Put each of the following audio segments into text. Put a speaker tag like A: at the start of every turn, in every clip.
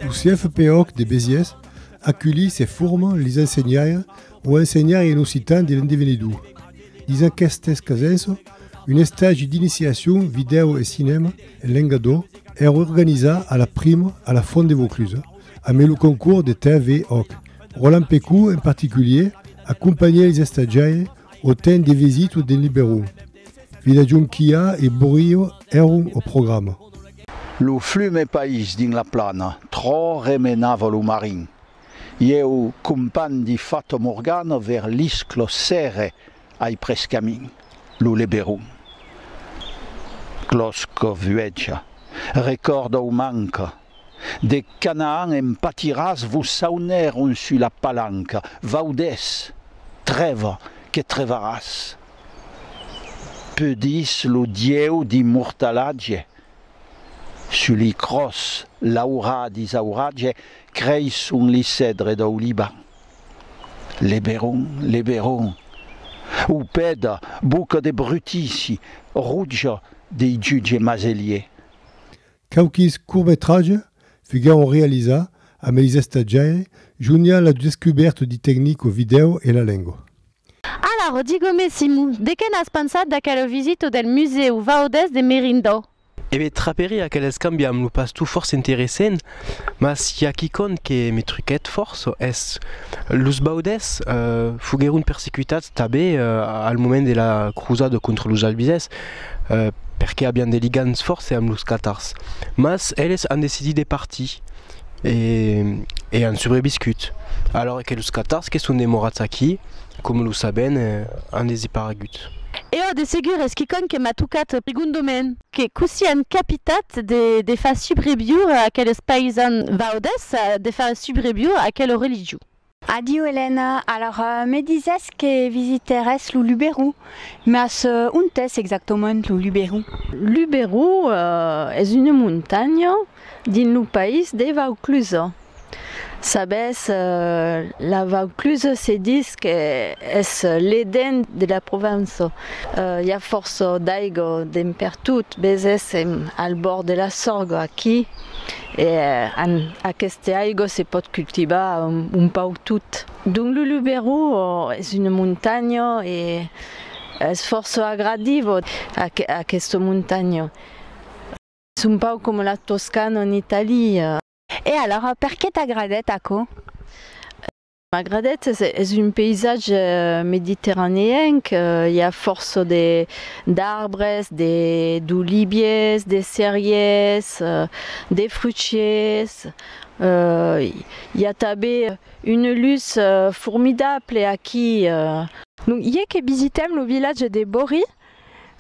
A: Lo CFP Òc de Besiers aculhi se forma lis ensenhaires o ensenhaires en occitan de l'endevenidor. Lis aquestes casenço, un estagi d'iniciacion vidèo e cinèma en lenga d'Òc èr organizat a la prima a la Font de Vauclusa amé lo concours de TV Òc. Roland Pecou en particulier acompanhè lis estatgiaires o temps de visita de Liberó, Vila Jonquia e Borio èron au programa. Lo
B: flume país dins la plana trò remenava lo marin. Ieu companh di Fato Morgano ver l'isclo Sere ai pres camin, lo Leberon. Clòsco vuèja, recòrda o manca, de Canaan en patiràs vos saunèron sus la palanca, vaudès, trèva que trevaràs. Peudís lo Dieu d'immortalatge, sus li cròs l'aurà d'isauratge, creisson li cèdre dau Liban. Leberon, leberon, upèda, boca de brutici, rotja dei jutge maselier. Quauquis
A: courtmetratges fuguèron realizats amb eis estatgiaire Junia la Duscubert di tecnic o vidèo e la lengo. Alara,
C: digome Simu, de qué n'as pensat d'aquela visita del Musèu Vaudès de Merindau? E be, traperé
D: aquel escambi amb lo pastor fòrça interessent, mas i a quicòm que me truquèt fòrça, es, los Vaudès foguèron persecutats tanben al moment de la crosada contra los Albizès, perqué avián de ligams fòrts amb los catars, mas eles an decidit de partir e an subreviscut, alora que los catars que son demorats aquí, coma lo sabèn, an deseparegut. E ò, de segur,
C: es quicòm que m'a tocat prigondament. Que cossí an capitat de far subreviure aqueles païsans vaudes, de far subreviure aquela religion? Adiu, Elena.
E: Alors, me disès que visiterès lo Luberó, mas ont es exactament lo Luberó? Luberó
C: es una montanha dins lo país de Vaucluse. Sabes, la Vaucluse se ditz qu'es l'Eden de la Provença. I a fòrça d'aiga dempertot, vesèssim al bòrd de la Sorga aquí. E an aqueste aigo se pòt cultivar un pauc tot. Dong Lu Lu Berru es una montanha e es fòrça agradiva aquesta montanha. Es un pauc coma la Toscana en Italia. E alara,
E: perqué t'agradèt aquò?
C: Magradèt es un païsatge mediterraneenc, i a fòrça d'arbres, d'oliviers, de cerièrs, de fruchiers, i a tanben una lutz formidable aquí. Non ié
F: que visitèm lo vilatge de Bori,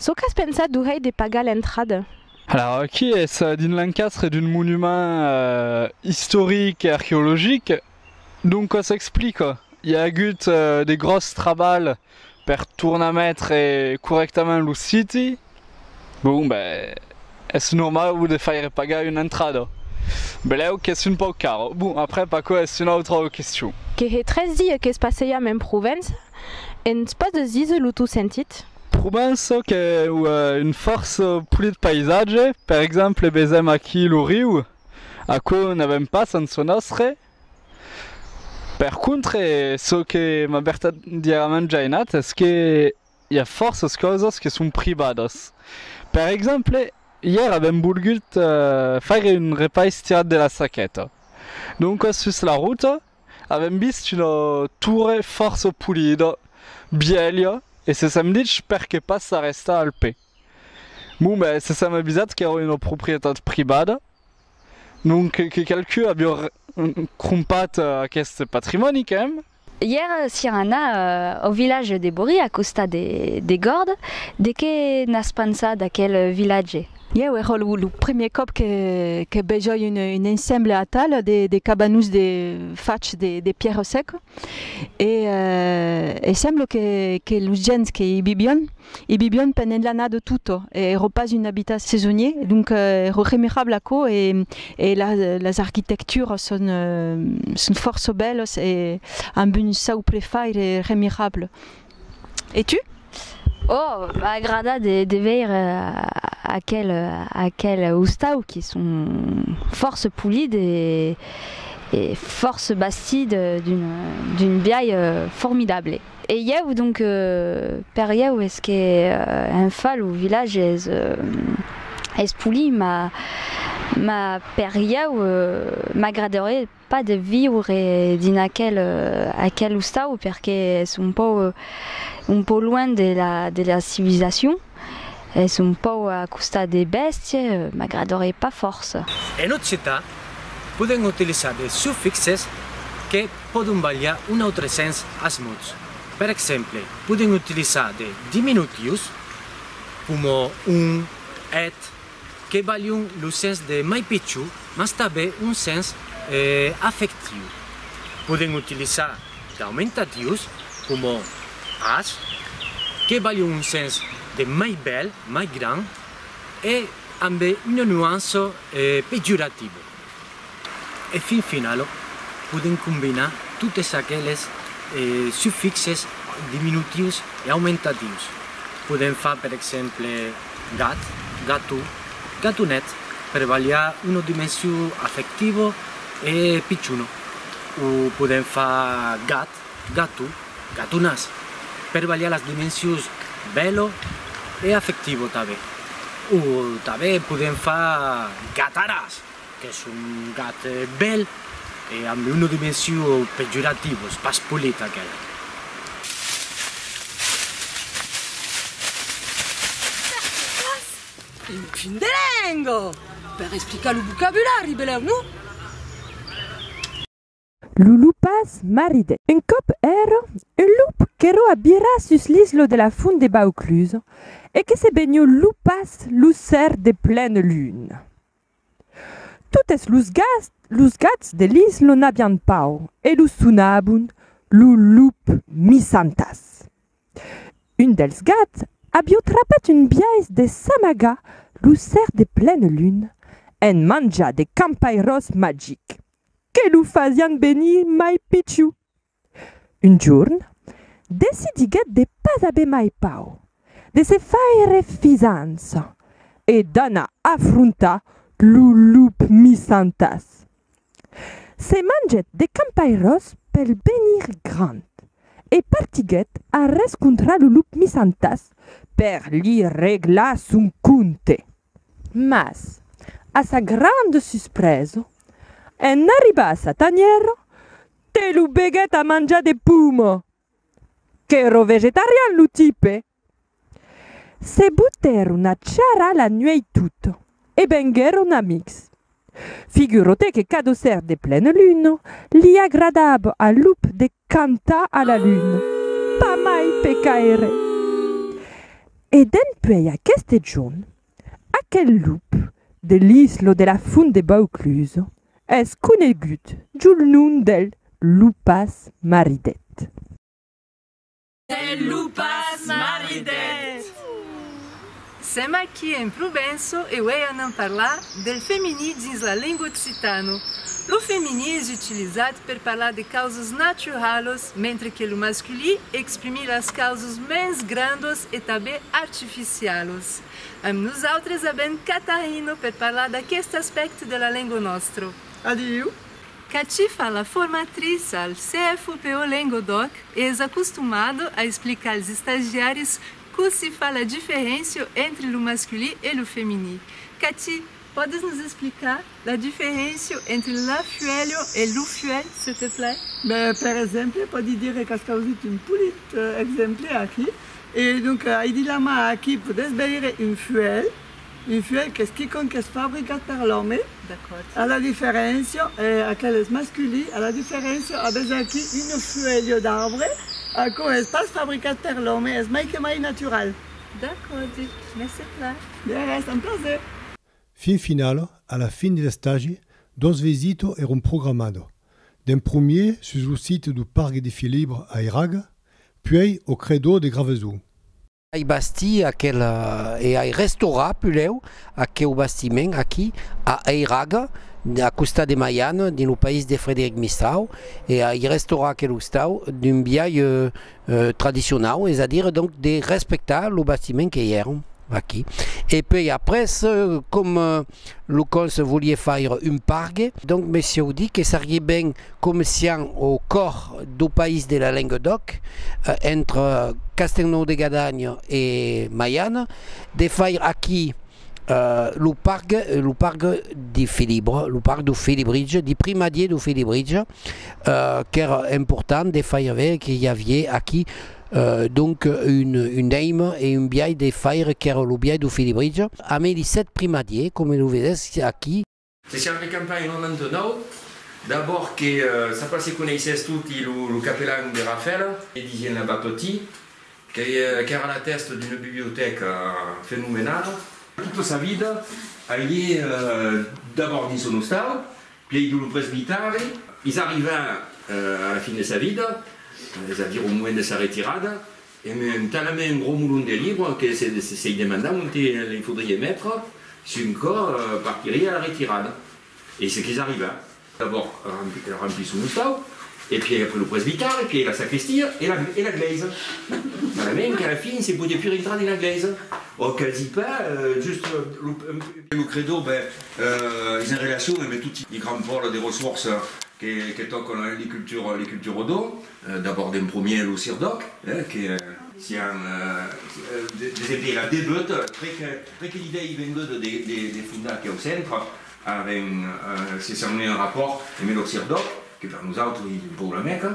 F: çò qu'as pensat d'u hèi de pagar l'entrada? Alara, aquí
G: es dins l'encastre d'un monument istoric e arqueologic, Donca s'explica, i a agut de gròs trabalh per tornar metre corrèctament lo siti, bon ben es normau de faire pagar una entrada, benlèu qu'es un pauc cara, bon après p'aquò es una autra question. Que hè tres dies
F: que's passejam en Provença, e'ns pòs de díser lo tau sentit? Provença
G: qu'è un fòrça polit paisatge, per exemple vesèm aquí lo riu, Aquò n'avèm pas en çò nòstre. Per contre, çò que m'a vertadièrament jainat es que i a fòrças causas que son privadas. Per exemple, ièr avèm volgut faire un repais tirat de la saqueta. Doncas sus la ruta avèm vist una torre fòrça polida, bièlha e se sèm dich perqué pas s'arrestar al pè. Bon ben se sèm avisats qu'èra una proprietat privada, non que qualcun aviá crompat aqueste patrimòni qu'èm. Ièr sián
E: anats au vilatge de Borí a costat de Gòrd, de qué n'as pensat d'aquel vilatge? Ièu èra lo
F: primièr còp que vejoi un ensemble atal de cabanons fachs de pierro seca. e e semblo que que los gents que i vivion i vivion pendent l'anada de totto e ero pas un abitat sesonier donc ero remirable aquò e e la las arquitecturas son son fòrça bèlas e amb un sau prefaire remirable. E tu?
E: Oh,
F: m'a
E: agradat de
F: veire
E: aquel aquel ostau que son fòrça polit e e fòrça bastit d'un biais formidable. E ieu, donc, per ieu es que en fa lo village es es polit, m'a m'a per ieu m'agradarie pas de viure dins aquel aquel ostau perque es un pauc un pauc luenh de la de la civilisacion es un pauc a costat de bèstie m'agradoré pas fòrça. En occitan
H: podem utilizar de sufixes que pòdon balhar un autre sens as mots. Per exemple, podem utilizar de diminutius coma un, eth, que balhon lo sens de mai pichon, mas tanben un sens afectiu. Podem utilizar d'aumentativs coma as, que balhon un sens de mai bèl, mai grand, e ambe una nuança pejorativa. E fin finalo, podèm combinar totes aqueles sufixes diminutius e aumentatius. Podèm far per exemple gat, gato, gatonet per balhar una dimension afectiva e pichona. O podèm far gat, Gato, gatonas, per balhar las dimensions bèlo e afectivo tanben. O tanben podem far gataras, qu'es un gat bèl e amb una dimension pejorativo, es pas polit aquela. Perqué pas
I: un fin de lenga per explicar lo vocabulari, belèu, non?
J: Lo loupas maridèt. Un còp èrra un loup qu'èrra a birar sus l'islo de la font de Baucluse e que se benhó loupas lo ser de plena luna. Totes los gas los gats de l'islo n'avián paur e lo sonabon lo loup misantas. Un dels gats avió trapat un biais de s'amagar lo ser de plena luna en manjar de campairós magics. Que lo fasián venir mai pichiu. Un jorn, decidiguèt de pas aver mai pau, de se faire fisança e d'anar afrontar lo lup missantàs. Se mangèt de campairòs pel venir grand e partiguèt arrescontrar lo lup missantàs per li reglar son compte. Mas, a sa granda suspresa, en arribar sa tanhèra, te lo beguèt a manjar de puma! Qu'èra vegetarian lo tipe! Se butèron a charrar la nuèit tota e venguèron amics. Figuro-te que cadosèr de plena luna li agradava a Lup de cantar a la luna, pas mai pe caire! E dempuèi aqueste jorn, aquel Lup de l'isla de la Font de Vauclusa es conegut jol nom del Lupas Maridet.
K: E lo pas maridet! Sèm aquí en Provenço e uèi anam parlar del femení dins la lenga occitana. Lo femení es utilizat per parlar de causas naturalas, mentre que lo masculí exprimí las causas mens grandas e tanben artificialas. Amb nosautres avèm Catarina per parlar d'aqueste aspècte de la lenga nòstra. Adiu!
L: Ca ci fa
K: la formatriça, al CFUPO Lengodòc e es acostumado a explicar als estagiaris cossí fa la diferéncia entre lo masculí e lo feminí. Ca ci. Pòdes nos explicar la diferéncia entre la fuèlha e lo fuèlh, se te plai? Ben, per exemple,
L: pòdi dire qu'as causut un polit exemple aquí. E donc, aidi la mà aquí, pòdes veire un fuèlh. Un fuèlh qu'es quicòm qu'es fabricat per l'òme, a la diferéncia, e aquel es masculí, a la diferéncia, avètz aquí un fuèlho d'arbre, aquò es pas fabricat per l'òme, es mai que mai natural. D'acòrd dit.
K: Mèsi plan. De res, un
L: plaser. Fin final,
A: a la fin de l'estagi, dos visito èron programado, d'un promier sus lo site du Pargue de Filibre a Eraga, puèi au Credo de Gravezon. Ai bastir
M: aquel e ai restaurar pulèu aqueu bastiment aquí a Eiraga, a costat de Maiana, dins lo país de Frederic Mistrau, e ai restaurar aquel ostau d'un biais tradicionau, es a dire donc de respectar lo bastiment que i èra aquí. E puèi après com. lo conse volie faire un pargue, donc me sieu dit que serie ben comecian au còr dau país de la lengue d'òc, entre Castelnau de Gadagna e Maiana, de faire aqui lo pargue, lo pargue di Filibre, lo pargue dau Filibridge, di primadier dau Filibridge, qu'ère important de faire veire que i avie aqui, Donc un daim e un biais de faire qu'ère lo biais do Felibritge, amé li sèt primadier, coma lo vedètz aquí. Se siam de
N: campanha en 99, d'abòrd que ça pas se coneissètz toti lo capelan de Rafèla, que disien la Batoti, qu'ère la tèsta d'una bibliotèca fenomenala. Tota sa vida agué d'abòrd dins son ostau, Pièi de lo presbitèri, es arrivèr a la fin de sa vida, es a dire au moment de sa retirada, e me un talament un gros molon de libres que se-se-se-i demandam onte li faudrie metre si un còp partirie a la retirada. E se qu'es arrivèr. D'abòrd rampir son ostau, e pièi après lo presbitèri, pièi la sacristia e la-e la glèisa. Talament qu'a la fin se podie pus rintrar dins la glèisa, o quasi pas, just lo-un Que lo credo, ben, es en relacion emb toti li grands pòles de ressourça que tòcan li cultures, li cultures odo, d'abòrd en promier lo CIRDOC, eh, que sián des empièrs a debut, pr'e que l'idèa ei venguda de fondar aqueu centre, avèm se signèu un rapòrt emb lo CIRDOC, que per nosautres ei un pòu la Mèca,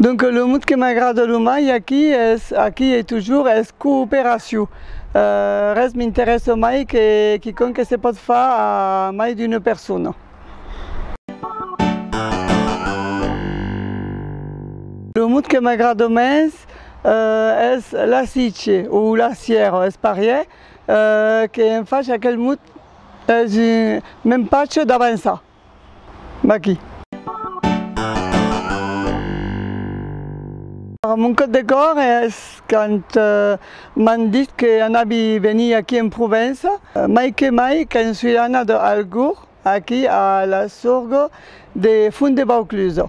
L: Donc lo mot que m'agrada lo mai aquí es, aquí e toujours, es cooperacion. Res m'interessa mai que quicòm que se pòt far a mai d'una persona. Lo mot que m'agrada mens es lassice o lassièra, es parièr que en fach aquel mot es un m'empatge d'avançar. Maqui. Mon còp de còr es quand m'an dit que anavi venir aquí en Provença, mai que mai quand sui anat algur aquí a l'Assurgo de Font de Vaucluso.